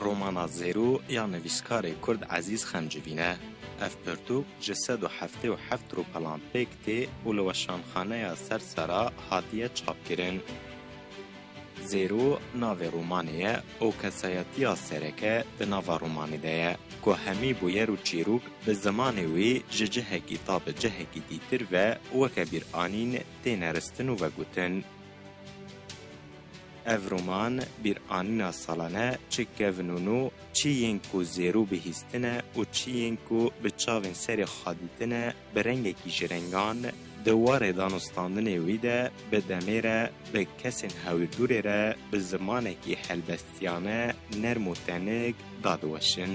Romana Zêro ya nivîskarê Kurd Ezîz Xemcivîn e. Ev pirtûk ji sed û heftê û heft rûpelan pêk tê û li Weşanxaneya Sersera hatiye çapkirin. Zêro navê romanê ye û kesayetiya sereke di nava romanê de ye ku hemî bûyer û çîrok bi zimanê wê ji cihekî ta bi cihekî dîtir ve weke bîranîn tê neristin û vegutin. Ev roman bîranîna salane çi kevn û no, çi yên ku zêro bihîstine û çi yên ku bi çavên serê xwe dîtine Bi rengekî ji rengan di warê danûstandinê wî de bi demê re bi kesên hewîrdûrê re bi zimanekî helbestiyane nerm û tenik da diweşin.